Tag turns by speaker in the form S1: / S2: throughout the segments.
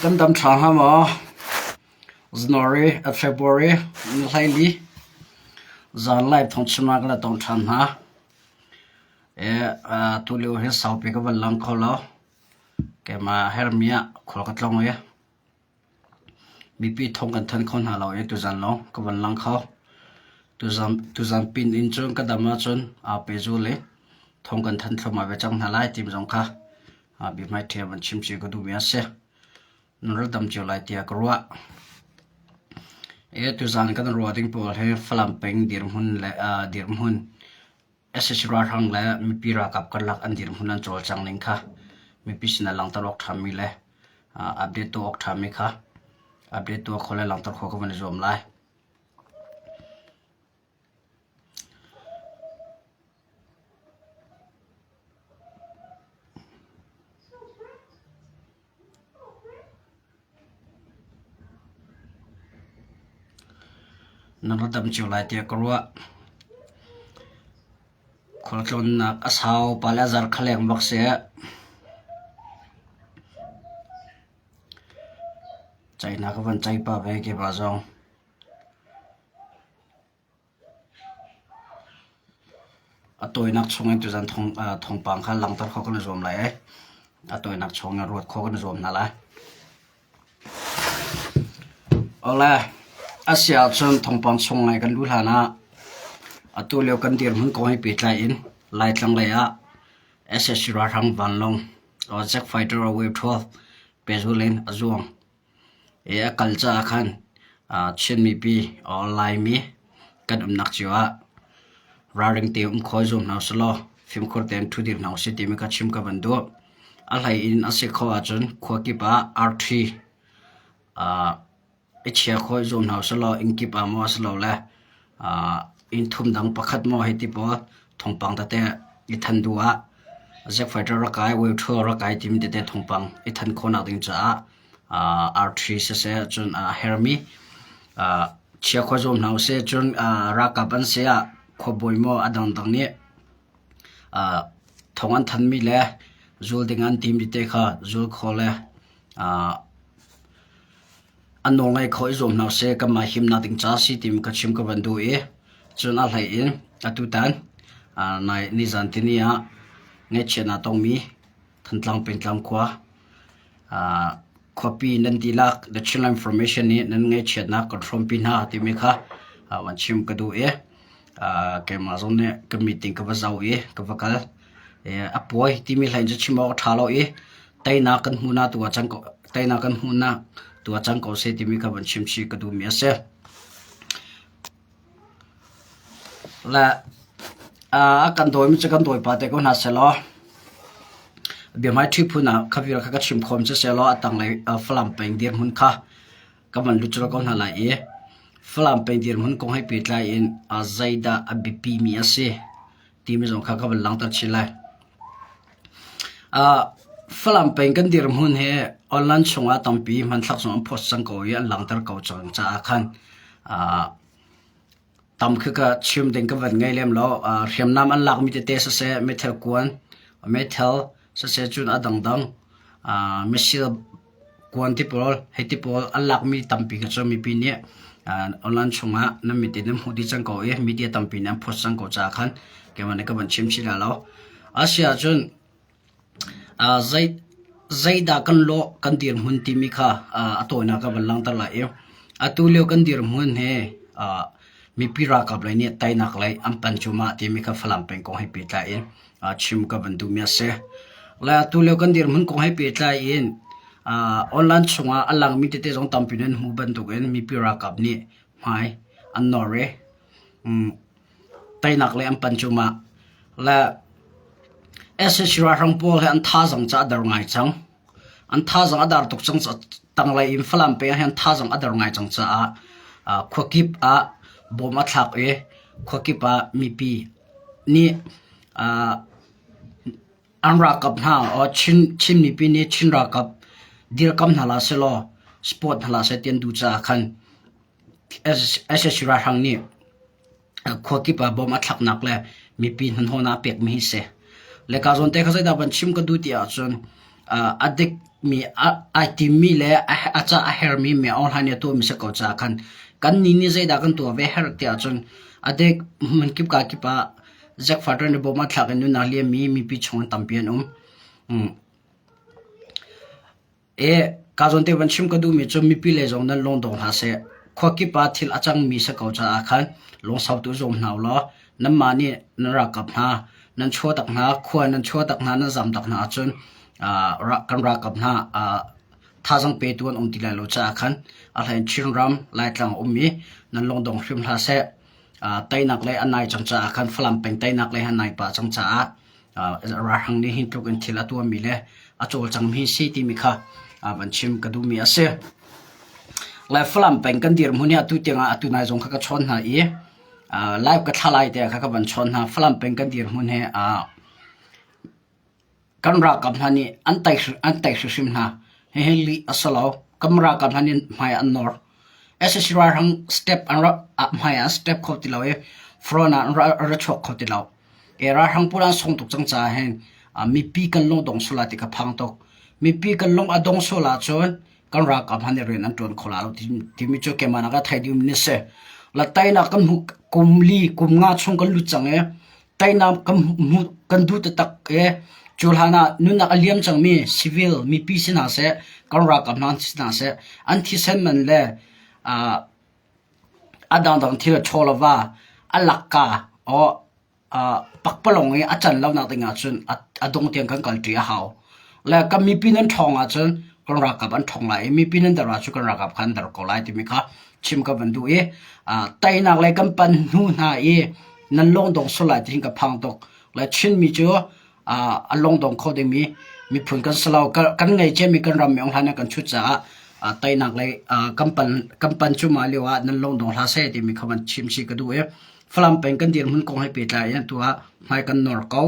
S1: Kan dam ṭha hnga maw? January, February ni hleili zanlai thongchimnak le tong ṭhan hna. Tulio hi saupi ka van lang kho lo. Keimah herhmi ah khua ka tlong i. Mipi thawng kan thanh kho hna lo ee tuzan lawng ka van lang kho. Tuzan pin in cun ka dam ahcun aa pezul i thawng kan thanh thluahmah ve cang hna lai timi zong kha biahmai ṭhia van chim cio ka duhmi a si. Nan rak dam cio lai tiah ka ruah. Ee tuzan kan ruah ding pawl hi Falam peng dirhmun le dirhmun sac ralhrang le mipi ralkap karlak an dirhmun an cawlcang ning kha mipi sinah langhter awk ṭhami le update tuah awk ṭhami kha update tuah khawh le langhter khawh kha van i zuam lai. Na ra dam cio lai tiah ka ruah. Khualtlawnnak a sau pale a zarh khaleng bak seh. Cainak a van cai pa ve ke pa zong. A tawinak chungin tuzan thawngpang kha langhter khawh kan i zuam lai i a tawinak chungin ruat khawh kan i zuam hna lai. Ole, a si ahcun thawngpang chung ngai kan luh hlan ah atu lio kan dirhmun kong he pehtlai in Laitlang lei ah SSC ralhrang vanlawng Jet Fighter Wave 12 pehzulh in a zuang. I a kal caah khan Chin mipi or Laimi kan umnak cio ah ralring te um khawi zum hna usih law fimkhur tein ṭhu dih hna usih timi kha chim ka van duh. A hlei in a si khawh ahcun khua kip ah arṭhi i chia khawi zum hna usih law inn kip ah maw a si lo le Innthum dang pakhat maw hiti paw thawngpang tate i than duh ah Zac Federer rakai, World Tour rakai timi tete thawngpang i than khawhnak ding caah arthrri siseh cun hermi chia khua zuam hna usih cun ralkap an saya khuabawi maw a dangdang nih thawng an thanmi le zul ding an tim tite kha zul khaw le a nawlngei kho i zuam hna usih. Kanmah himnak ding caah si timi ka chim ka van duh i cun a hlei in atutan nizantini ah ngaihchiatnak a tongmi Thantlang pengtlang khua khuapi nan dihlak The Chinland Formation nih nan ngaihchiatnak kan hrawmpi hna timi kha van chim ka duh i keimah zong nih ka meeting ka va zoh i ka va kal. A puai timi hlei in cu chim awk a ṭha lo i teinak kan hmuhnak tu ah cang ko teinak kan hmuhnak tu ah cang ko seh timi ka von chim chih ka duhmi a si. Le a kan dawimi cu kan dawipa te ko hna sehlaw biahmai ṭhi phun ah kha vial kha ka chim khawm cu sehlaw a tanglei Falam peng dirhmun kha ka van lutsur ko hna lai i Falam peng dirhmun kong hei pehtlai in zeidah a biapimi a si timi zong kha ka van langhter chin lai. Uh, Falam peng kan dir hmun hi online chungah tampi hmanthlak zong an post cang ko i an langhter ko cang caah khan uh, tam kha ka chim ding ka van ngai lem lo uh, hriamnam an lak mi tete sa se meithal kuan meithal sa se cun a dang dang uh, missile Kuanti pawl, heiti pawl an lakmi tampi cu mipi nih online chungah nan mit in nan hmuh dih cang ko i media tampi nih an post cang ko caah khan keimah nih ka van chim chih hlah lo. Asiahcun zeidah kan lawh kan dirhmun timi kha a tawinak ah van langhter lai i atu lio kan dirhmun hi mipi ralkap lei nih teinak lei an pan cu mah timi kha Falam peng kong he pehtlai in ah chim ka van duhmi a si. Le atu lio kan dirhmun kong he pehtlai in uh, online chungah a langmi tete zong tampi nan hmu bantukin mipi ralkap nih hmai an nawr i um, tainak le an pan cu ma le SSC ralhrang pawl he an tha zong ca a dar ngai cang. An thazang a dar tuk cang caah tanglei in Falam peng ahhin an thazang a der ngai cang caah khuakip ah bawm a thlak i khuakip ah mipi nih an ralkap hna Chin mipi nih Chin ralkap dirkamh hna hlah sehlaw support hna hlah seh ti an duh caah khan SSC ralhrang nih khuakip ah bom a thlaknak le mipi hnanhawn aa pekmi hi si. Le kaa zawn te kha zeidah van chim ka duh tiah ahcun uh, a dikmi ai timmi le a ca a hermi mi online atu mi se ko ca khan kan ni ni zeidah kan tuah ve her tiah ahcun a dek man kip ka kip ah Jack Fatran ne bom a thlak in nuna liami mi pi chung an tampi an um. Hmm. Ee, kaa zawn te van chim ka duhmi cu mipi lei zong nan lawng daw hlah seh. Khua kip ah thil a cangmi si ko caah khan lawngsotu zuam hna u law nanmah nih nan rak kap hna, nan chuah tak hna, khua nan chuah tak hna, nan zam tak hna ahcun kan rak kap hna. Thazaang petu an um ti lai lo caah khan a hlei in Chinram, Laitlang a um i nan lawng dong hrim hlah seh. Teinak lei an nai cang caah khan Falam peng teinak lei han nai pah cang caah ralhrang nih hi tluk in thil a tuahmi le a cawlcangmi si timi kha van chim ka duhmi a si. Le Falam peng kan dir hmun hi atu tiangah atu nai zong kha ka chawn hna i live ka thla lai te kha ka van chawn hna Falam peng kan dir hmun he kan ralkap hna nih an tai an tai hrim hna hihi li asalo kam ralkap hna nih hmai an nor SSC ralhrang step an ra hmai an step kho ti lo i front ah ra chuak kho ti lo Ralhrang pawl an sawng tuk cang caah hin mipi kan lung a dong sual lai ti kha a phang tuk. Mipi kan lung a dong sual ahcun kan ralkap hna nih rian an ṭuan kho lai lo timi cu keimah nakin a thei dihmi a si. La teinak kan hmu kum li kum nga chung kan lut cang i teinak kan hmuh kan duh taktak i cu hlan ah nunnak a liam cangmi civil mipi si hna seh kan ralkap hna si hna seh an thisen man le A dangdang thil a ṭhaw lo va, a lakka aw pakpalawng i a can lonak ding ahcun a dong tiang kan kalṭi a hau. Le kan mipi nan ṭhawng ahcun kan ralkap an ṭhawng lai i mipi nan der ahcun kan ralkap kha an der ko lai timi kha chim ka van duh i teinak le kan panh hnu hna i nan lawng dong sual lai tihin ka phang tuk. Le Chinmi cu a lungdong kho dingmi miphun kan si lo. Kan ngei ciami kan ram meng hlan ah kan thut caah teinak lei kan pan cu mah lio ah nan lungdong hla seh timi kha van chim si ka duh i Falam peng kan dirhmun kong he pehtlai in tu ah hmai kan nor ko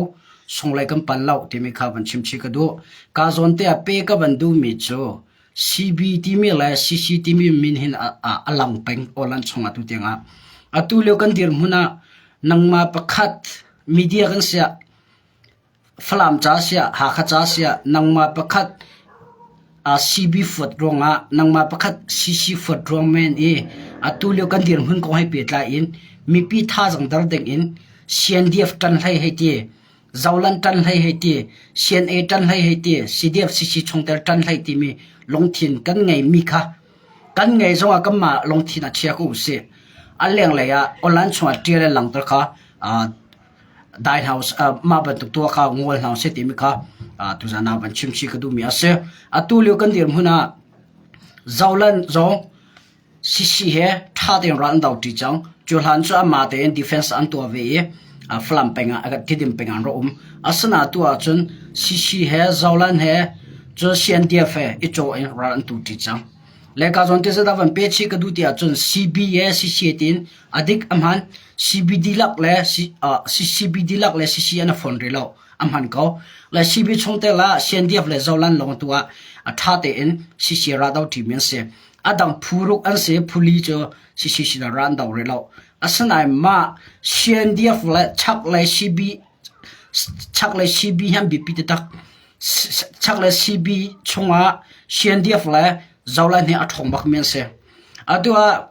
S1: sunglei kan pan lo timi kha van chim si ka duh. Ka zawn te ah pe ka van duhmi cu CB timi le CC timi min hin a lang peng olan chung atu tiang ah atu lio kan dirhmun ah nangmah pakhat media kan sia Falam ca siah Hakha ca siah nangmah pakhat CB foot ruangah nangmah pakhat CC foot ruang men i atu lio kan dirhmun kong hei pehtlai in mipi thazaang der dingin CNDF ṭan hlei hei ti, Zoland ṭan hlei hei ti, CNA ṭan hlei hei ti, CDF-CC chungtel ṭan hlei timi lungthin kan ngeimi kha kan ngei zongah kanmah lungthin ah chia ko usih. A lenglei ah Awlan chungah ṭial le langter kha Dai hna usih, aa mah bantuk tuah kha ngol hna usih timi kha aa tuzaan ah van chimchih ka duhmi a si. Atu lio kan dirhmun ah zolan zong sisi he ṭha tein ral an do ṭi cang. Cu hlan cu amah tein defense an tuah ve i a Falam peng ah a Tidim peng ah an rak um. Asinaatu ahcun sisi he zolan he cun CNDF he i caw in ral an tu ṭi cang. Le ka zawn te zat ah van pe chih ka duh ti ahcun CBA CCA tiin A dik a hman. CBD lak le CCBD lak le CC an a fawn rih lo. A hman ko. Le CB chung te la CNDF le zolan lawng tu ah a tha tein CC ra do ṭimi an si. A dang phuruk an si phuli cu CC sinah ra an do rih lo. Asinain mah CNDF le chak le CB chak le CB han biapi te tak chak le CB chungah CNDF le zolan hi a ṭhawng bak mi an si. Atu ah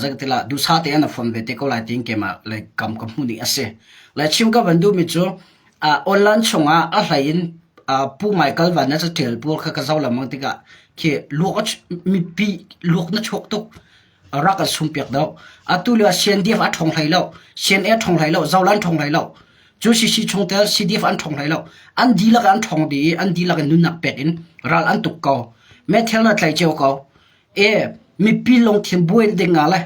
S1: Zeitilah duhsah tein a fon ve te ko lai tiin keimah le kam ka hmuh nih a si. Le chim ka van duhmi cu online chungah a hlei in pu Michael Van na caṭial pur kha ka zoh lengmang tikah khi luak a mipi luak na chuak tuk rak an sum piak deuh. Atu lio ah CNDF a ṭhawng hlei lo, CNA ṭhawng hlei lo, Zoland ṭhawng hlei lo. Cu CC chungtel CDF an ṭhawng hlei lo. An dihlak an ṭhawng dih i an dihlak in nunnak pek in ral an tuk ko. Methel na tlai cio ko. E mipi lungthin buan dingah le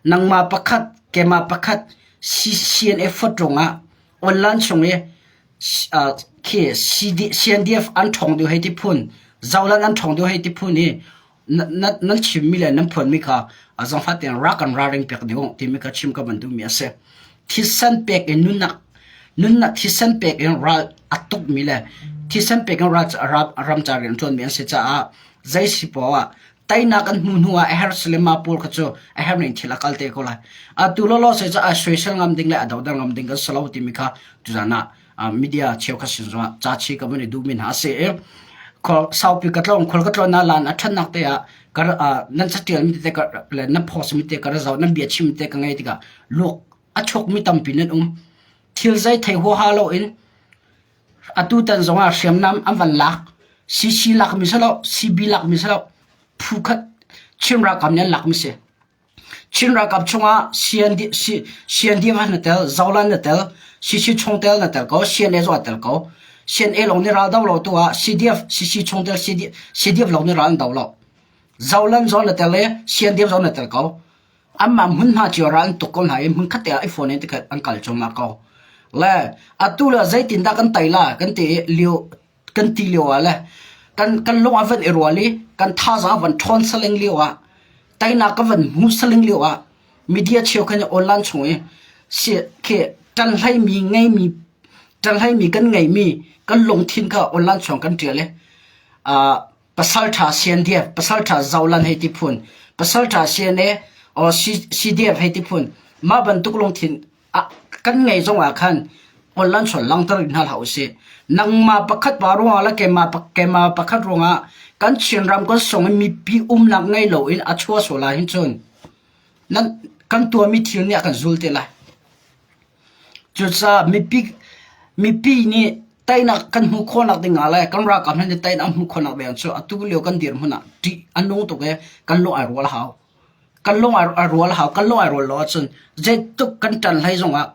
S1: nangmah pakhat keimah pakhat CCN effort rungah online chung i khi CNDF an thong deuh hei ti phun zaulan an thong deuh hei ti phun i nan chimmi le nan phuanmi kha a zong fatin rak an ra ring pek deuh timi kha chim ka bantu mi a si. Thisen pek in nunnak thisen pek in ral a tukmi le thisen pek in ramcar rian a ṭuanmi an si caah zei si poah ah teinak an hmuh hnuah a herh Salim ma pawl kha cu a herh ning thil a kal te ko lai. Atu lawlaw zei cu ai soisel ngam ding le a doder ngam ding kan si lo timi kha tuzan ah media cheukhat sin zong ca chi ka van i duhmi hna se e saupi ka tlong khol ka tlon na lan a ṭhannak te ah kar nan satialmi te ka le na phosmi te ka razau nan bia chim te ka ngai tika luk a chukmi tampi nan um thil zai thei ho ha lo in atu tan zong ah hriamnam an van lak cc lak mi salo cb lak mi salo phu khat chimra kam ne lak mi se Chin ralkap chungah siandiam han na tel, zolan na tel, sisi chungtel na tel ko, CNA zong ah tel ko. CNA lawng nih ral do lo tu ah CDF, sisi chungtel CDF lawng nih ral an do lo. Zolan zong na tel le siandiam zong na tel ko. Anmah hmun hna cio ral an tuk ko hna i hmun khatte ah iPhone in tikhat an kal cuahmah ko. Le atu le zeitin dah kan tai la kan ti i liu kan ti lio ah le kan kan lung a van i rual i kan thazaang a van ṭhawn saling lio ah teinak ka van hmu saling lio ah media cheukhat nih online chung i khi ṭan hleimi ngeimi ṭan hleimi kan ngeimi kan lungthin kha online chung kan ṭial i pasalṭha siandev pasalṭha zolan hei ti phun pasalṭha sian i CDF hei ti phun mah bantuk lungthin kan ngei zong ah khan holh an sual langter hna hlah usih. Nangmah pakhat pa ruangah le keimah, keimah pakhat ruangah kan Chin ram kan song in mipi umnak ngei lo in a chua sual lai hin cun nan kan tuami thil nih a kan zul te lai. Cucaah mipi mipi nih tainak kan hmuh khawhnak dingah le kan ralkap hna nih tainak hmuh khawhnak ding cu atu lio kan dir hmun ah ṭih an nung tuk i kan lung ai rual hau. Kan lung a rual a hau. Kan lung ai rual lo ahcun zeitluk kan ṭan hlei zongah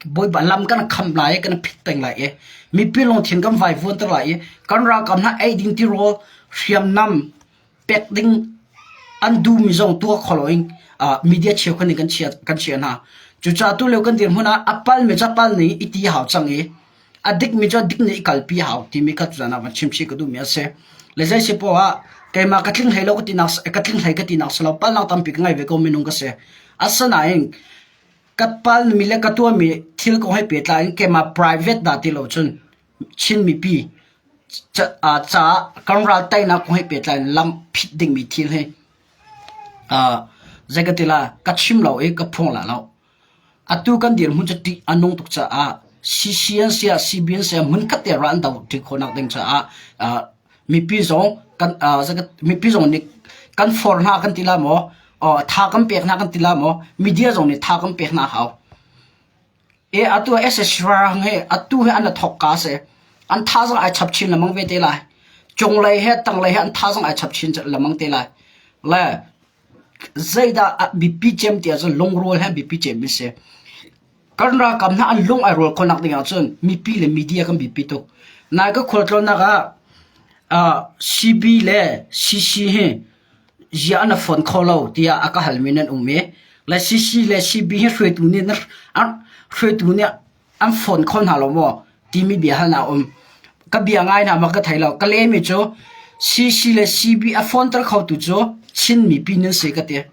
S1: Bawipa lam kan kham lai i kan phit peng lai i mipi lungthin kan vaivuanter lai i kan ralkap hna ei ding tirawl hriamnam pek ding an duhmi zong tuah kho loin media cheu khat nih kan chiah hna. Cucaah tulio kan dirhmun ah a palmi cu a pal ni i ti a hau cang i A dikmi cu a dik nih i kalpi a hau timi kha tutan ah van chimchih ka duhmi a si. Le zei si poah ah keimah ka tling hlei lo ka tinak ka tling hlei ka tinak si lo palnak tampi ka ngei ve ko minung ka si. Asinain ka palmi le ka tuahmi thil kong he pehtlai in keimah private dah ti lo cun Chin mipi caah kan ral teinak kong he pehtlai in lam phit dingmi thil hi zei ka ti la ka chim lo i ka phung la lo. Atu kan dirhmun cu ṭih a nung tuk caah CC an si ah CB an si ah hmunkhat te rah an do ṭhi khawhnak ding caah mipi zong mipi zong nih kan for hna kan ti la maw tha kan pek hna kan ti la maw media zong nih tha kan pek hna hau. Atu ah SSR hi atu hi an thawk ka a si. An thazang ai chap chin lemang ve te lai. Cung lei he tang lei he an thazang ai chap chin lemang te lai. Le Zeidah a biapi cem ti ahcun lungrual he biapi cem an si. Kan ralkap hna an lung ai rual khawhnak ding ahcun mipi le media kan biapi tuk. Nain kan khualtlawnnak ah ah CB le CC hi ziah an a fawn kho lo tiah a ka halmi nan um i, le CC le CB hi hruaitu nih an hruaitu nih an phone kho hna lo maw timi bia hal na um ka bia ngai na ma ka thei lo ka le mi chu CC le CB a phone tar kho tu chu chin mi pin nan se ka te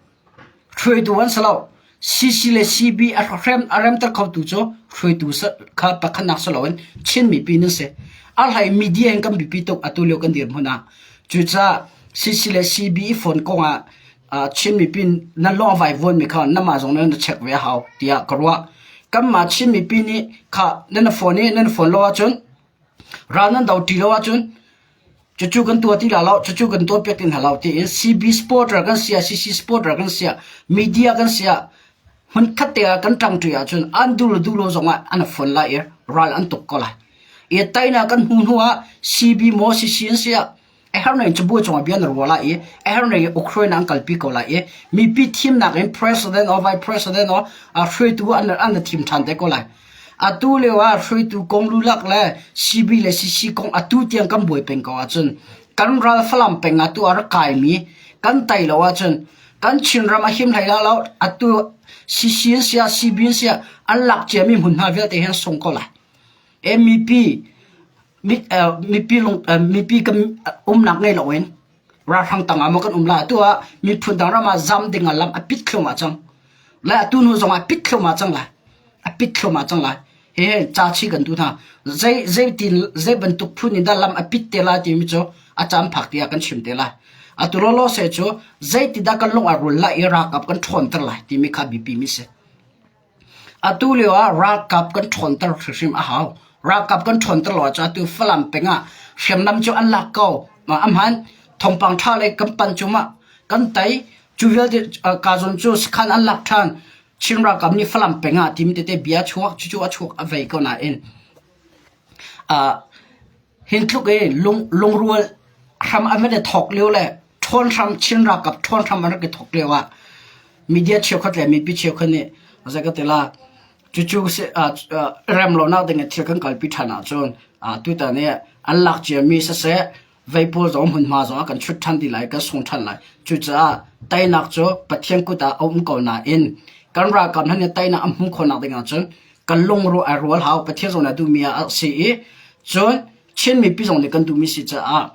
S1: hrui tu wan salo CC le CB a hrem a rem tar kho tu chu hrui tu sa kha pakhan nak salo in chin mi pin nan se a hlai media in kan bi pi tok atu leo kan dir huna chu cha CC le CB phone konga Chin mipi na hlawh a vaivuanmi kha nangmah zong nih na check ve a hau tiah ka ruah. Kanmah Chin mipi nih kha nan na phone i nan phone lo ahcun ral nan do ti lo ahcun cucu kan tuah ti la lo, cucu kan tuah piak ti hna lo tiin CB supporter kan si ah, CC supporter kan si ah, media kan si ah hmunkhat te ah kan ṭang ṭi ahcun an dul duh lo zongah an phone lai i ral an tuk ko lai. I tainak kan hmuh hnuah CB maw CC an si ah a herhne in cabuai cungah bia na ruah lai i a herhne in Ukraine ah an kalpi ko lai i mipi thimnak in president or vice president or hruaitu an an thim ṭhan te ko lai atu lio ah hruaitu kong lulak le CB le CC kong atu tiang kan buai peng ko ahcun kan ral Falam peng atu a rak kai mi kan tai lo ahcun kan Chinram a him hlei la lo atu CC in sia CB in sia an lak cia mi hmun hna vialte hen sung ko lai MPP mipi kan umnak ngei loin ralhrang tangah maw kan um la atu ah miphun dang ram ah zam ding ah lam a pit thluam ah cang la atu hnu zong ah pit thluam ah cang la a pit thluam ah cang la he cha chi kan tu hna zei zei tin zei bantuk phun in dah lam a pit te la ti mi cu a cham phak ti kan chim te la atu lo lo se chu zei ti da kan lung a rul la iraq ap kan thon tar la ti mi kha bipi mi se Atu lio ah ralkap kan ṭhawnter hrim a hau. Ralkap kan ṭhawnter lo ahcun atu Falam peng ah hriamnam cu an lak ko. A hmaan. Thawngpang ṭha lei kan panh cu mah kan tei. Cu vialte Kazawn cu sakhan an lak ṭhan. Chin ralkap nih Falam peng ah timi tete bia a chuak. Cucu a chuak a vei ko nain aa Hi tluk i lungrual hram an van i thawk lio le ṭhawn hram Chin ralkap ṭhawn hram an rak i thawk lio ah media cheukhat le mipi cheukhat nih zei ka ti la cucu remlonak ding i thil kan kalpi ṭhan ahcun tutan i an lak ciami siseh vei pawl zong hmunhma zongah kan ṭhut ṭhan ti lai kan sung ṭhan lai cucaah teinak cu Pathian kut ah a um ko nain kan ralkap hna nih teinak an hmuh khawhnak ding ahcun kan lungruh a rual hau Pathian zong nih a duhmi ah a rak si i cun Chin mipi zong nih kan duhmi si caah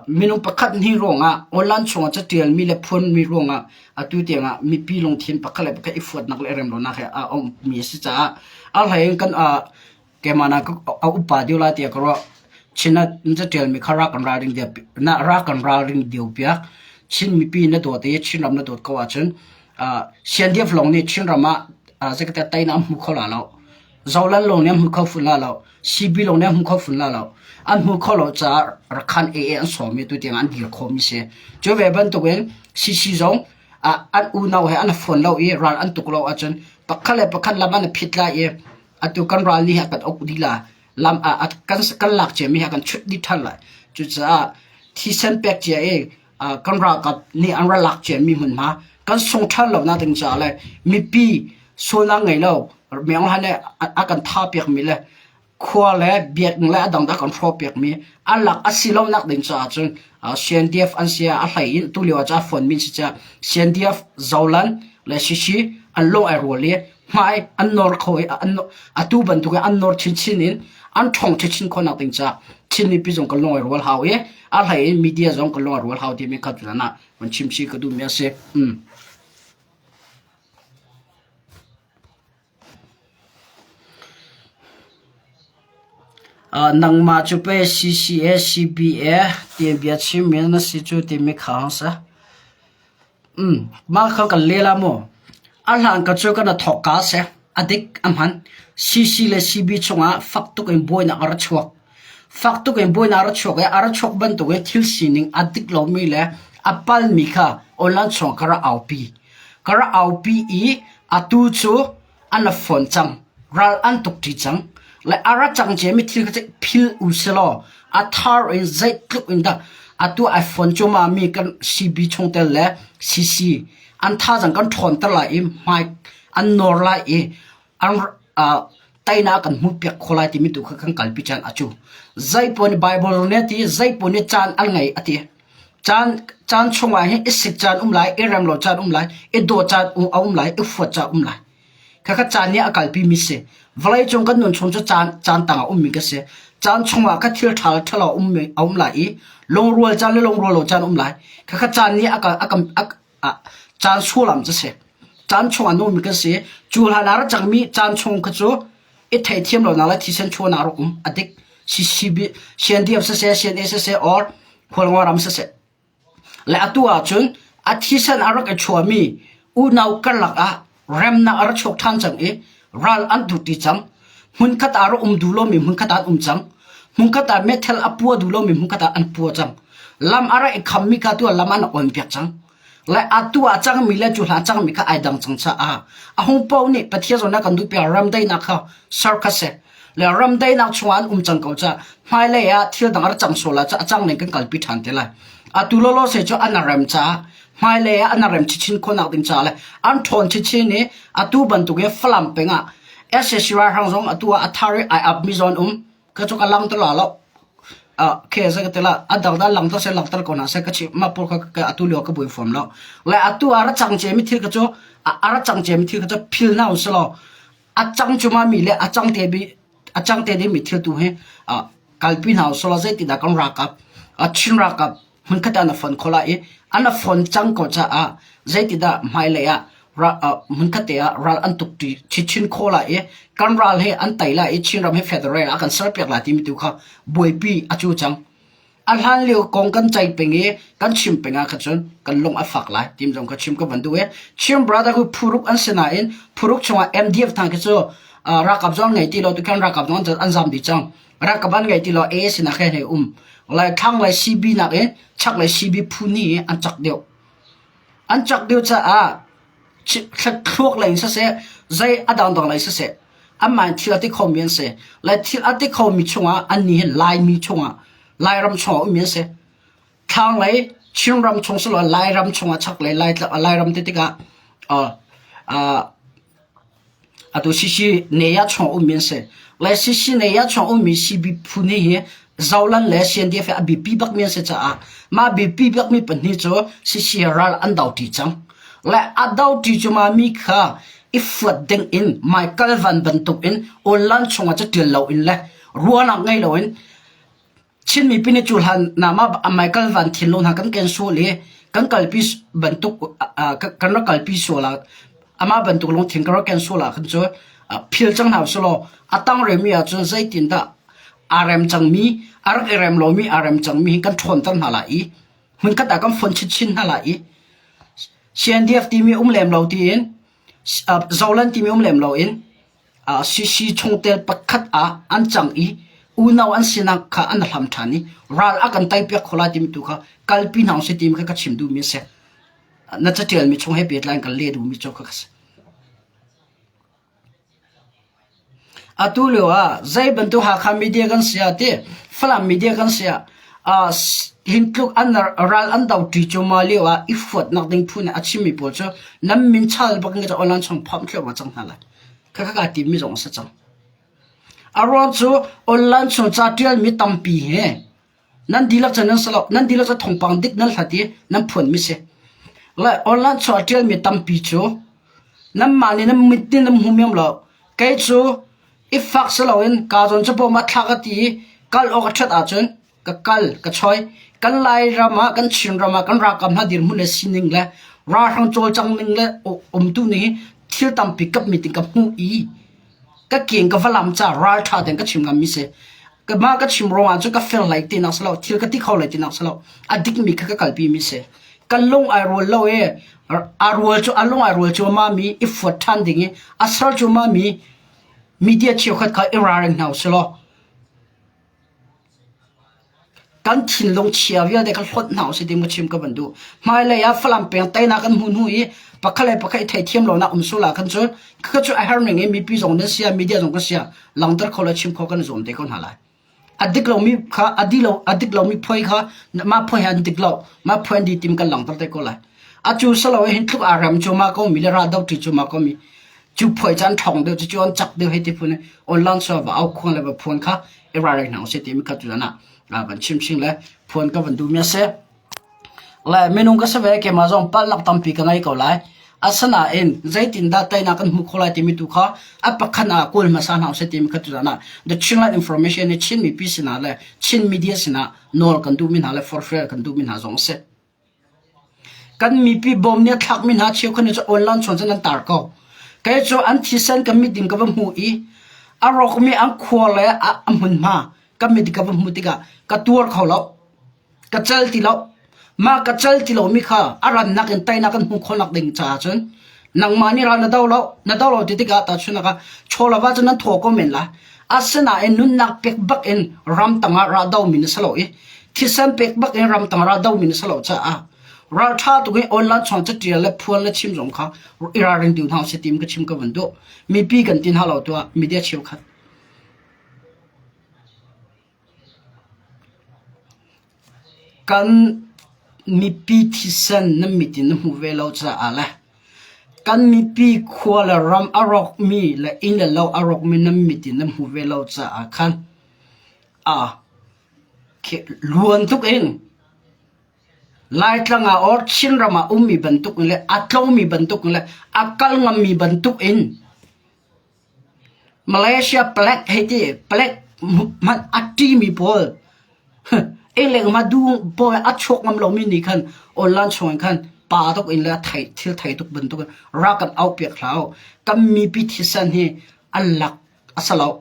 S1: minung pakhat hnih ruangah online chungah catialmi le phuanmi ruangah atu tiangah mipi lungthin pakhat le pakhat i fuatnak le remlonak he a ummi a si caah a hlei in kan keimah na a upa dio lai tiah ka ruah Chin ah catialmi kha ra kan ralring na ra kan ralring dio piak Chin mipi na dawt i Chinram na dawt ko ahcun CNDF lawng nih Chinram ah Secretary Tain an hmu kho la lo. Zolal lawng nih an hmu kho fun la lo. CB lawng nih an hmu kho fun la lo. An hmu kho lo caah Rakhan AA an sawm i tu tiang an dir khom si. Cu ve bantukin CC zong an unau he an phone lo i ral an tuk lo ahcun pakhat le pakhat lam an phit la i atu kan ral ni ha kan ok di la lam kan kan lak che mi ha kan chut di thal la cucaah thisen pek cia i kan ralkap nih an ral lak ciami hmunhma kan sung ṭhan lo na ding caah le mipi sualnak ngei lo mianghlan le a kan tha piakmi le khua le biakinn le a dang a kan hro piakmi an lak a si lo nak ding caah cun CNDF an sia a hlei in tu lio ah ca phone min si ca CNDF zolan le shishi an lung ai rual i hmai an nor kho i atu bantuk in an nor chinchin in an ṭhong chinchin khonak ding ca Chin mipi zong ka lawi rual hau i a hlei in media zong ka lawi rual hau ti min khat nan ah man chim si ka duh mi a si. Mm. Uh, nangma cu pe CCA CBA ti bia chim min na si cu ti mi khang sa Mah kha kan lel ah maw a hlan ka cu kan ra thawk kaa seh. A dik a hman. CC le CB chungah fak tuk in buainak a ra chuak. Fak tuk in buainak a ra chuak i a ra chuak bantuk i thil sining a dik lomi le a palmi kha online chungah ka ra aupi. Ka ra aupi i atu cu an rak fawn cang. Ral an tuk ṭi cang. Le a ra cang cia mi thil kha ceih phil u selaw a thar in zeitluk in dah atu ai fawn cuma mi kan CB chung tel le CC an thazang kan ṭhawn ter lai i hmai an nor lai i an uh, tainak kan hmu piak kho lai timi tu kha kan kalpi can acu zeipo nih bible ne ti zeipo nih caan an ngei ati Caan chungah hin i sik caan um lai, i rem lo caan um lai, i daw caan a um lai, i fuat caan um lai. Khakha caan nih a kalpimi a si. Vawleicung kan nun chung cu caan tang ah ummi ka si. Caan chungah kha thil ṭha le ṭhalo a um lai i lungrual caan le lungrual lo caan um lai. Khakha caan nih a kan caan sualam cu si. Caan chung a nungmi kan si. Cu hlan ah rak cangmi caan chung kha cu i theithiam lonak le thisen chuahnak rak um. A dik. CNDF siseh, CNA siseh, or khualngo ram siseh. Le atu ah cun a thisen a rak i chuahmi unau karlak ah Remnak a ra chuak ṭhan cang i ral an dur ti cang. Hmunkhat ah rak um duh lomi hmunkhat ah an um cang. Hmunkhat ah methel a pua duh lomi hmunkhat ah an pua cang. Lam a ra i khammi ka tu lam an on piak cang. Lai atu a cangmi le cu hla cangmi kha ai dang cang ca a. A hung pau nih Pathian zona kan duh piak ramdai na kha sarkase Le ram dainak chungah an um cang ko ca hmailei ah thil dang a rak cang sual ah a cang ning kan kalpi ṭhan te lai. Atu lolo se cu an rem caah hmailei ah an rem chichin khonak ding caah le an ṭhawn chichin i atu bantuk i Falam peng ah SS ralhrang zong atu ah a thar i ai ap mi zon um ka cu ka lang to la lo ke za ka tela adang da lang to se lang tar ko na se ka chi ma pur ka atu leo ka bui form lo le atu ara chang che mi thil ka chu ara chang che mi thil ka chu phil na uslo A cang cungah mi le a cang te mi a cang te ding mi thil tu hi uh, kalpi hna usih law zeitindah kan rakap a Chin rakap hmunkhat ah na fon kho lai i an a fon cang ko caah zeitindah hmailei ah hmunkhat ah ral an tuk ti chin kho lai i kan ral he an tai lai i Chin ram he federal ah kan ser piak lai timi tu kha buaipi a cu cang A hlanlio kong kan ceih peng i kan chim peng ah khan cun kan lung a fak lai tim zong ka chim ka van duh i Chin brother hu phuruk an si nain phuruk chungah MDF hna khi cu uh, ralkap zong ngei ti lo tu khan ralkap zong an zam dih cang ralkap an ngei ti lo AA sinah khan hei um lai thlang lai CB nak i chak lai CB phu ni an chak deuh an chak deuh caah Thluak lei in siseh, zei a dangdang lei siseh, anmah in thil a ti khomi an si. Le thil a ti khomi chungah annih hi Laimi chungah, Lairam chungah ummi an si. Thlanglei Chinram chung siloah Lairam chungah chaklei Lairam ti tikah uh, uh, Atu Sisi nei ah chuang ummi an si. Le Sisi nei ah chuang ummi sibi phu nih hi zolan le siandiak hi a biapi bakmi an si caah mah biapi bakmi pahnih cu Sisi he ral an doṭi cang. Le a doṭi cu mah mi kha i fuat dingin hmaikal van bantukin Unlan chungah caṭial loin le ruahnak ngei loin Chin mipi nih cu hlan nam ah Michael Van Thin lo hna kan ken sual i kan kalpi bantuk kan rak kalpi sual ah amah bantuk lungthin kan rak ken sual ah khan cu phil cang hna sih law a tang remi ah cun zeitindah aa rem cangmi a rak i rem lomi aa rem cangmi hi kan ṭhawnter hna lai i hmunkhat ah kan fonh chinchin hna lai i CNDF timi um lem lo tiin Zoland timi um lem lo in CC chungtel pakhat ah an cang i unau an sinak kha an hlam ṭhan i ral a kan teipiak kho lai timi tu kha kalpi hna u sih timi kha ka chim duhmi a si. Na caṭialmi chung he pehtlai in kan leh duhmi cu kha ka si. Atu lio ah zei bantuk Hakha media kan si ah ti Falam media kan si ah uh, hin tluk an ral an do ṭi cu ma lio ah i fuatnak ding phu nih a chimmi pawl cu nan min chal bak in ka online chung phomh thlo ma cang hna lai. Kha ka kaa timmi zong a si cang. A ruang cu online chung ca ṭialmi tampi hi nan dihlak cu nan si lo. Nan dihlak cu thawngpang dik nan hlat i nan phuanmi si. Le online chung a ṭialmi tampi cu nanmah nih nan mit nih nan hmu miam lo. Kei cu i fak si loin kaa zawn cu bawm ah thla ka ti i kal awk a ṭhat ahcun ka kal ka choi kan Lairam ah kan Chinram ah kan ralkap hna dirhmun le sining le ralhrang cawlcang ning le umtu ning hi thil tampi kap mi ting ka hmuh i ka keng ka valam ca raltha ten ka chim ngam mi se ka ma ka chim rong ah cu ka fel lai te nak salo thil ka ti kho lai te nak salo a dik mi kha ka kalpi mi se kan lung ai rual lo e a rual cu a lung ai rual cu ma mi i fuat than ding i asal cu ma mi media cheu khat kha i ralring hna selo Kan thinlung chia vialte kha hlonh hna usih ti maw chim ka van duh. Hmailei ah Falam peng teinak kan hmuh hnu i pakhat le pakhat i theithiam lonak um sul ah khan cu khakha cu a herning in mipi zong nan sia media zong kan sia langhter kho le chim kho kan zuam te ko hna lai. A dik lomi kha a di lo a dik lomi phuai kha mah phuai he an dik lo mah phuai an di tim kan langhter te ko lai. Atu salo hin thlup aa rem cu ma ko mi le ra do ti cu ma ko mi Cu phuai caan ṭhawng deuh cu cu an cak deuh hei ti phun online server va au khuang le va phuan kha i ralring hna usih timi kha tu zan ah van chimching le phuan ka van duhmi a si. Le minung ka si ve keimah zong palnak tampi ka ngei ko lai. Asinain zeitindah teinak kan hmuh khawh lai timi tu kha a pakhat ah kawl hmasa hna usih timi kha tu zan ah The Chinland Information i Chin mipi sinah le Chin media sinah nawl kan duhmi hna le forfeit kan duhmi hna zong a si. Kan mipi bawm nih a thlakmi hna cheukhat cu online chawn cun an tar ko. Kei cu an thisen ka mit in ka va hmuh i a rawkmi an khua le a hmunhma ka mit in ka va hmuh tikah ka tuar kho lo. Ka cal ti lo. Mah ka cal ti lomi kha a rannak in teinak kan hmuh khawhnak ding caah cun nangmah nih ra na do lo na do lo ti tikah tahchunak ah chawlava cu nan thaw ko men la asinain nunnak pek bak in ram tangah ra do mi na sa lo i thisen pek bak in ram tangah ra do mi na sa lo caah ralṭha tuk in online chong ca ṭial le phuan le chim zong kha i ralring tu hna se tim ka chim ka van du mipi kan tin halo tuah media cheu khat Kan mipi thisen na mit in na hmu ve lo caah le kan mipi khua le ram a rawkmi le inn le lo a rawkmi nan mit in na hmu ve lo caah khan aa luan tluk in Laitlang ah or Chinram ah ummi bantuk in le a tlawmi bantuk in le a kal ngammi bantuk in Malaysia plague hei ti plague hmanh a ṭi mi pawl ei le ngma du pawl a chuak ngam lomi nih khan online chungin khan pa tuk in le thil thei tuk bantukin ra kan auh piak hlah uh. Kan mipi thisen hi an lak a si loh.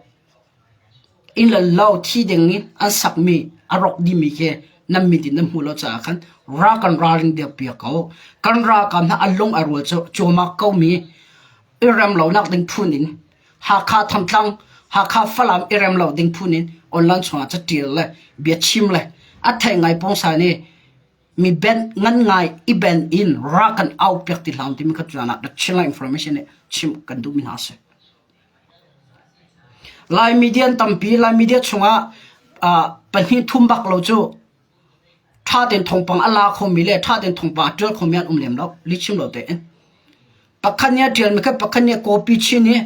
S1: Inn le lo thi ding in an sakmi a rawk dimi khi nan mit in nan hmuh lo caah khan ra kan ralring dir piak ko. Kan ralkap hna a lung a rual cu cuahmah ko mi i rem lonak ding phun in Hakha Thantlang Hakha Falam i rem lo ding phun in online chungah ca ṭial le bia chim le a thei ngai pong sa ni mi ben ngan ngai i ben in ra kan au piak ti hlam timi ka tuan ah rak chimla information ne chim kan duh mi hna se Lai media tampi Lai media chungah uh, pahnih thum bak lo cu Ṭhatein thawngpang a la khomi le ṭhatein thawngpang a ṭial khomi an um lem lo. Lihchim lo tein. Pakhat nih a ṭialmi kha pakhat nih a copy chin i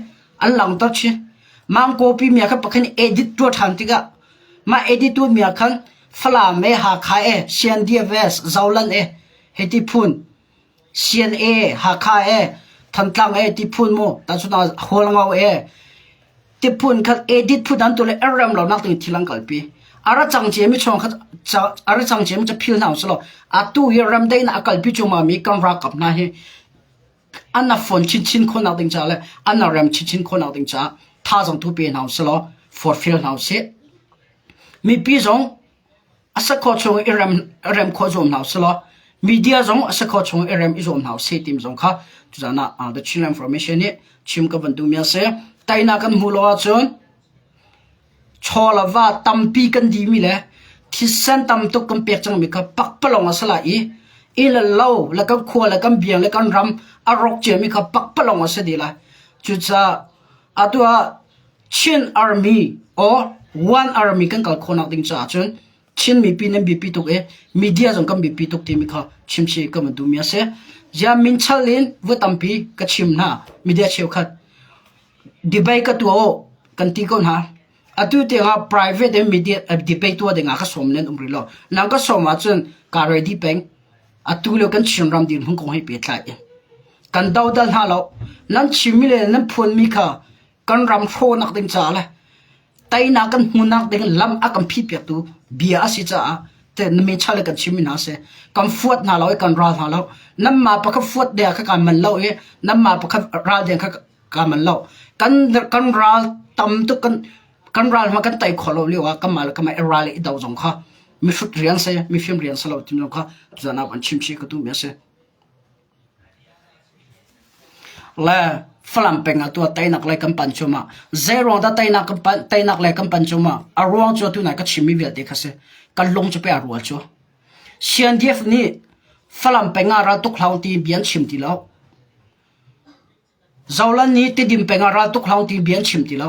S1: an langhter chin. Mah copy mia kha pakhat nih edit ṭuah ṭhan tikah mah edit tu mia khan Falam e, Hakha e, Sian Diaves, Zolan e, hiti phun Sian e, Hakha e, Thantlang e ti phun mu tahchun ah Hualngo e ti phun khat edit phun an tu le errem lo nak ding thil an kalpi. A ra cang cia mi chuang khat a ra cang cia mi ca phil hna usih law atu hi rem dei na a kalpi chung ma mi kan ra kap hna hi an na phone chin chin khon nak ding ca le an na rem chin chin khon nak ding ca tha zong tu pe hna usih law forfeel hna usih. Mipi zong A sakhua chung i rem khawh zuam hna u si law media zong a sakhua chung i rem i zuam hna u sih timi zong kha tuzaan ah The Chinland Information nih chim ka van duhmi a si. Tainak kan hmuh lo ahcun chaw le va tampi kan dimi le thisen tam tuk kan pek cangmi kha pakpalawng a si lai i inn le lo le kan khua le kan biang le kan ram a rawk ciami kha pakpalawng a si dih lai. Cucaah atu ah Chin Army or One Army kan kal khawh nak ding caah cun Chin mipi nan biapi tuk i media zong kan biapi tuk timi kha chimsi kan van duhmi a si. Ziah min chal in va tampi ka chim hna media cheukhat debate ka tuah u kan ti ko hna. Atu tiangah private in media eh, debate tuah dingah ka sawm len um rih lo. Nang ka sawm ahcun ka ready peng. Atu le kan Chin ram dir hmun kong hi pehtlai. Kan dodal hna lo. Nan chimmi le nan phuanmi kha kan ram hrawnak ding caah le tainak kan hmunak ding lam a kan phit piaktu bia a si caah te na me chale kan chim hna se kan fuat hna lo i kan ral hna lo nam ma pakhat fuat dea kha kan man lo i nam ma pakhat ral deng kha ka man lo kan kan ral tam tu kan kan ral ma kan tai kho lo liu a kama la kama ral i do zong kha mi hrut rian se mi film rian se lo tim zong kha zana kan chim chi ka tu me se Le Falam peng ah tuah teinak le kan panh cuahmah. Zeiruang dah teinak kan panh, teinak le kan panh cuahmah? A ruang cu atu nai ka chimmi vialte kha si. Kan lung cu pe a rual cu. CNDF nih Falam peng ah raltuk hlau ti bia an chim ti lo. Zohlan hi Tidim peng ah ral tuk hlah u ti bia an chim ti lo.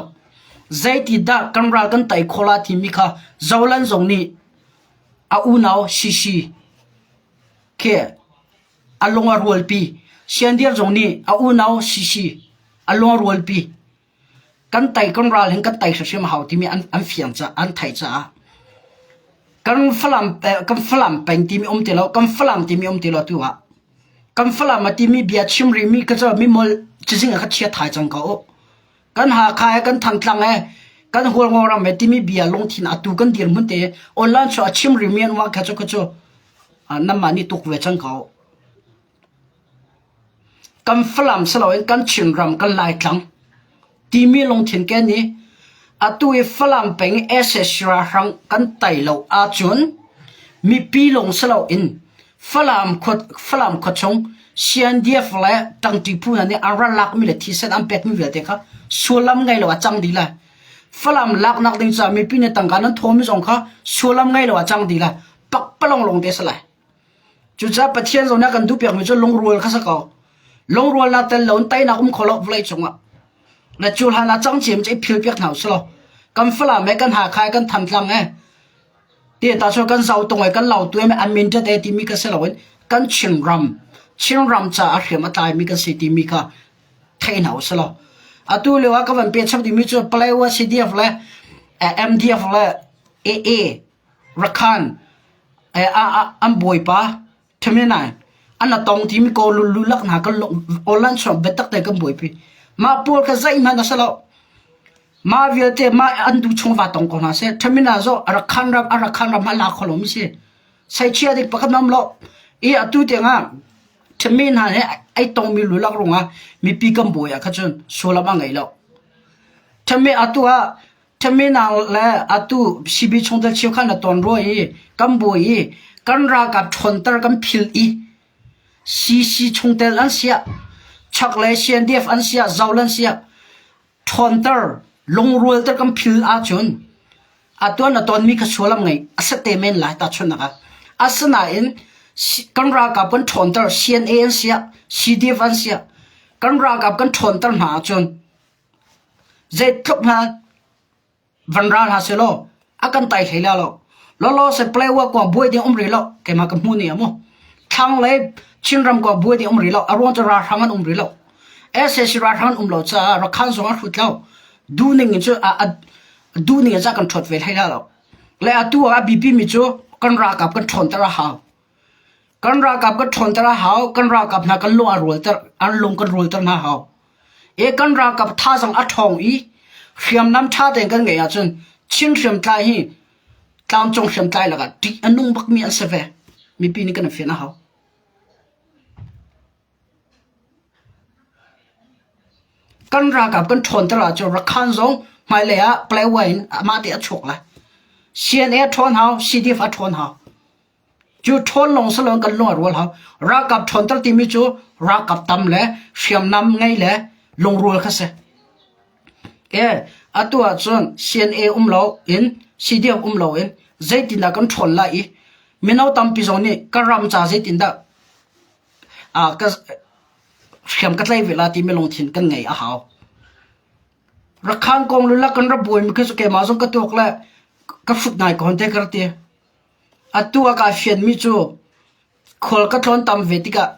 S1: Zeiti dah kan ral kan tei khawh la timi kha Zohlan zong nih a unau Shishi khi a lung a rualpi. Siandir zong nih a unau Shishi a lung a rualpi. Kan tei kan ral hin kan tei hrimhrim a hau timi an, an fiang caah an theih caah kan Falam, kan Falam peng timi um ti lo, kan Falam timi um ti lo tu ah Kan Falam a timi bia chim rihmi ka cu mimolh cazing ah ka chia thai cang ko. Kan Hakha he, kan Thangtlang he, kan Hualngawrang ve timi bia lungthin a tu kan dirhmun te online cu a chim rihmi an uang kha cu ka cu nanmah nih tuk ve cang ko. Kan Falam si loin kan Chinram, kan Laitlang timi lungthin ken i atu i Falam peng SS ralhrang kan tai lo ahcun mipi lung si loin Falam khua chung Siandiaf le Ṭangṭipu hna nih an ral lakmi le thisen an pekmi vialte kha sullam ngei lo ah cang dih lai. Falam laknak ding caah mipi nih tangka nan thawhmi zong kha sullam ngei lo ah cang dih lai. Pakpalong lawng te si lai. Cucaah Pathian zawnah kan duhpiakmi cu lungrual kha sak awk, lungrualnak tel loin teinak um kho lo vawlei cungah na cu hlanah cangciem cu i philpiak hna u si law kan falam he kan hakha he kan thamtlam he tehta chun kan zau tung i kan lau tu he an min ṭhate timi kha si loin kan Chinram Chinram caah hriam a tlaimi kan si timi kha thei hna u si law atu lio ah ka van pehchap dingmi cu Palawa CDF le MDF le AA Rakhan ah an bawipa ṭhemenai an a tong timi kaw lululak hna kan awlan suang biatak te kan buaipi. Mah pawl kha zeihmanh a si lo. Mah vialte mah an tu chung va tong ko hna seh. Ṭhemina zaw a rak khan ram a rak khan ram ah la kho lomi si. Saichia dik pakhat nam lo. I atu tiangah ṭhemi hna he ai tongmi lulak rungah mipi kan bawi ah kha cun sualam a ngei lo. Ṭhemi atu ah Terminal le atu CB chungtel cheu kha na ton rua i kan bawi i kan ralkap ṭhawnter kan phil i CC chungtel an siah chaklei CNDF an siah zaul an siah ṭhawnter lungrualter kan phil ahcun atu na tonmi kha sualam ngeih a sat te men lai tahchunhnak ah. Asinain kan ralkap kan ṭhawnter CNA an siah CDF an siah kan ralkap kan ṭhawnter hna ahcun Zeitluk hna van ra hlah seh law a kan tai hlei la lo. Lawlaw seh Palawa kua buai ding um rih lo keimah ka hmuh ni a maw. Thlang le Chinram kua buai ding um rih lo. A ruang cu ralhrang an um rih lo. SAC ralhrang an um lo caah Rakhan zong a hrut lo. Duning in cu a, a duning in cu a kan ṭhuat ve hlei la lo. Le atu ah a biapi mi cu kan ralkap kan ṭhawnter a hau. Kan ralkap kan ṭhawnter a hau. Kan ralkap hna kan lung a rualter, an lung kan rualter hna a hau. E kan ralkap thazaang a ṭhawng i hriamnam ṭha tein kan ngeih ahcun Chin hriamtlai hi tlangcung hriamtlai lakah ṭih a nung bakmi an si ve. Mipi nih kan i fian a hau. Kan ralkap kan ṭhawnter ahcun Rakhan zong hmailei ah Palawan in amah te a chuak lai. CNA a ṭhawn hau, CDF a ṭhawn hau. Cu ṭhawn lawng si loin kan lung a rual hau. Ralkap ṭhawnter timi cu ralkap tam le hriamnam ngei le lungrual kha si. Ee, atu ahcun CNA um lo in CDF um lo in zeitindah kan ṭhawl lai i mino tampi zong nih kan ram ca zeitindah aa, ka, hriam ka tlai ve la timi lungthin kan ngei a hau. Rakhan kong lula kan ra buaimi khi cu keimah zong ka tuak le ka hrut ngai ko hon te ka ra ti. Atu a kai fianmi cu khual ka tlawn tam ve tikah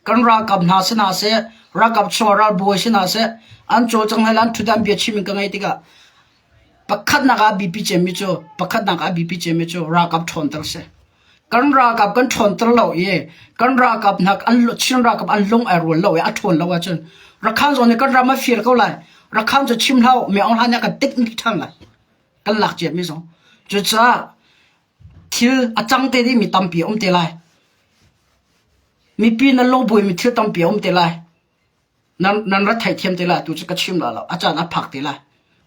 S1: kan ralkap hna si hna seh, ralkap chungah ralbawi si hna seh, an cawlcang le an ṭhutdan biachim in ka ngei tikah pakhatnak ah a biapi ciami cu pakhatnak ah a biapi ciami cu ralkap ṭhawnter a si. Kan ralkap kan ṭhawnter lo i kan ralkap hna Chin ralkap an lung ai rual lo i a ṭhawn lo ahcun Rakhan zong nih kan ram a fir ko lai. Rakhan cu chim hlah u, Myaung hlan nih a kan tik ṭhan lai. kan lak ciami zong. Cucaah thil a cang te dih mi tampi a um te lai. Mipi nan lungbuai mi thil tampi a um te lai. Nan, nan rat thai thiam te lai tu cu ka chim la lo. A caan a phak te lai.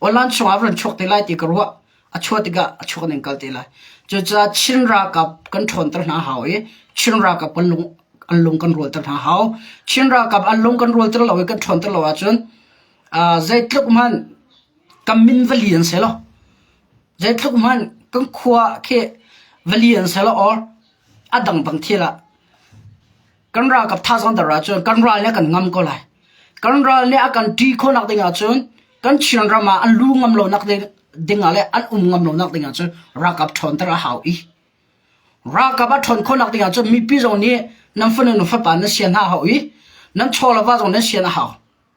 S1: Online chungah ran chuak te lai ti ka ruah. A chuah tikah a chuak ning kal te lai. Cucaah Chin ralkap kan ṭhawn ter hna hau i Chin ralkap kan lung an lung kan rual ter hna hau. Chin ralkap an lung kan rual ter lo i kan ṭhawn ter lo ahcun uh, zeitluk hmanh Kan min va li an si lo. Zeitluk hmanh kan khua ah khi va li an si lo or a dang bang thil ah kan ralkap thazang ter ahcun kan ral nih a kan ngam ko lai. Kan ral nih a kan ṭi khawhnak ding ahcun kan Chin ram ah an lu ngam lonak ding, ding ah le an um ngam lonak ding ahcun ralkap ṭhawnter a hau i ralkap a ṭhawn khawhnak ding ahcun mipi zong nih nan fanu nu fapa nan sian hna a hau i nan chawlava zong nan sian a hau.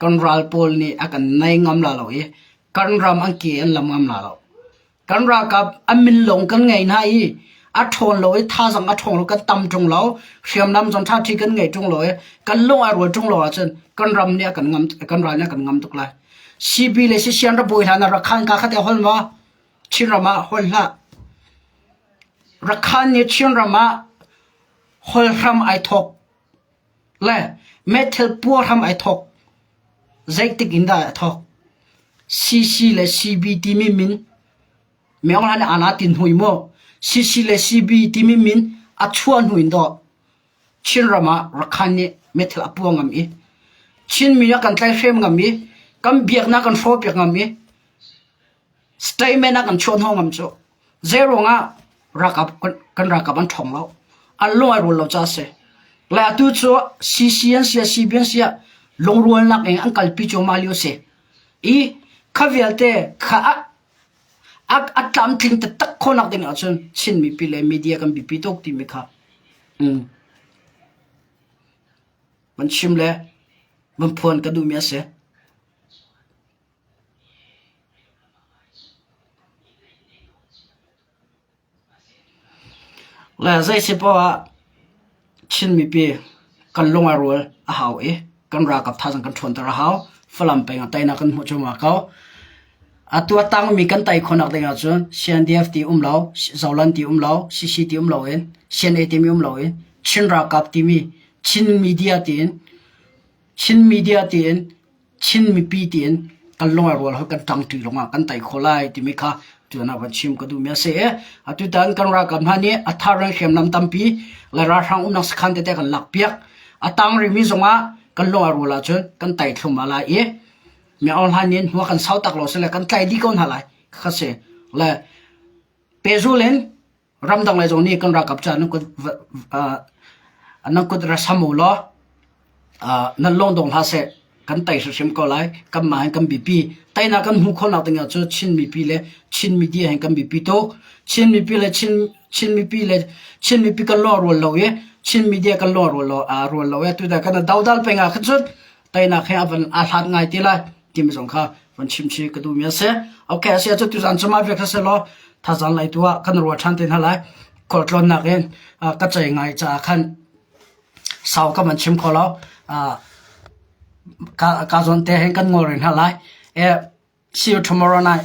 S1: kan ral pawl nih a kan nei ngam la lo i kan ram an ke an lam ngam la lo. Kan ralkap an min lawng kan ngei hna i a ṭhawn lo i thazang a ṭhawng lo kan tam ṭung lo hriamnam zong ṭha ṭhi kan ngei ṭung lo i kan lung a rual ṭung lo ahcun kan ram nih a kan ngam kan ral nih a kan ngam tuk lai. CB le Sisian ra bawi hla na rakhan ka khate hol ma Chin ram ah hol hla. Rakhan nih Chin ram ah hol hram ai thok Le meithal puar hram ai thawk. Zeitik in dah a thawk? CC le CB timi min meongran aa la tin hui mu. CC le CB timi min a chuah hnu in daw Chinram ah Rakhan nih meithal a puah ngam i Chinmi a kan tlaihhrem ngam i kan biaknak kan hrawh piak ngam i Statement ah kan chuah hnu ngam cu zeiruang ah kan ralkap an ṭhawng lo, an lung ai rual lo caah a si. Lai atu cu CC an si ah CP an si ah lungrualnak in an kalpi cuahmah lio a si i kha vialte kha a tlamtling taktak khawhnak ding ahcun Chin mipi le media kan biapi tuk timi kha van chim le van phuan ka duhmi a si. Le zeisi poah ah Chin mipi kan lung a rual a hau i kan ralkap thaizing kan ṭhawnter a hau. Falam peng ah teinak kan hmuh cuahmah ko. Atu a tangmi kan tei khawhnak ding ahcun CNDF ti um lo, Zoland ti um lo, CC ti um lo in, CNA timi um lo in Chin ralkap timi Chin media tiin Chin media tiin Chin mipi tiin kan lungrual hoi kan ṭang ṭi lungah kan tei kho lai timi kha tuan ah van chim ka duhmi a si e. Atu tan kan ralkap hna nih a thar ran hriamnam tampi le ralhrang umnak sakhan tete kan lak piak. A tang rimi zongah kan lungrual ahcun kan tei thlum ah lai i mi ohlan nin hua kan sau tak lo sile kan tlai dih ko hna lai khakha si. Le pehzul in ramdang le zong nih kan ralkap caah nan kut nan kut ra sam u law nan lawng dong hlah seh kan tei hrimhrim ko lai kanmah hin kan biapi teinak kan hmuh khawhnak ding ah cu Chin mipi le Chin media hin kan biapi tu Chin mipi le Chin Chin mipi le Chin mipi kan lo rual lo i Chin media kan lo rual lo rual lo e tu da kan dodal peng ah khan cun teinak he avan a hlat ngai ti lai tim zong kha von chim chi ka duhmi a si okay a si cu tuzan cuma vek sa law thazan lai tu ah kan ruwa than te na lai kol tlon nak in ka chai ngai cha khan sau ka man chim ko lo ka ka zon te hen kan ngol rin ha lai e see you tomorrow night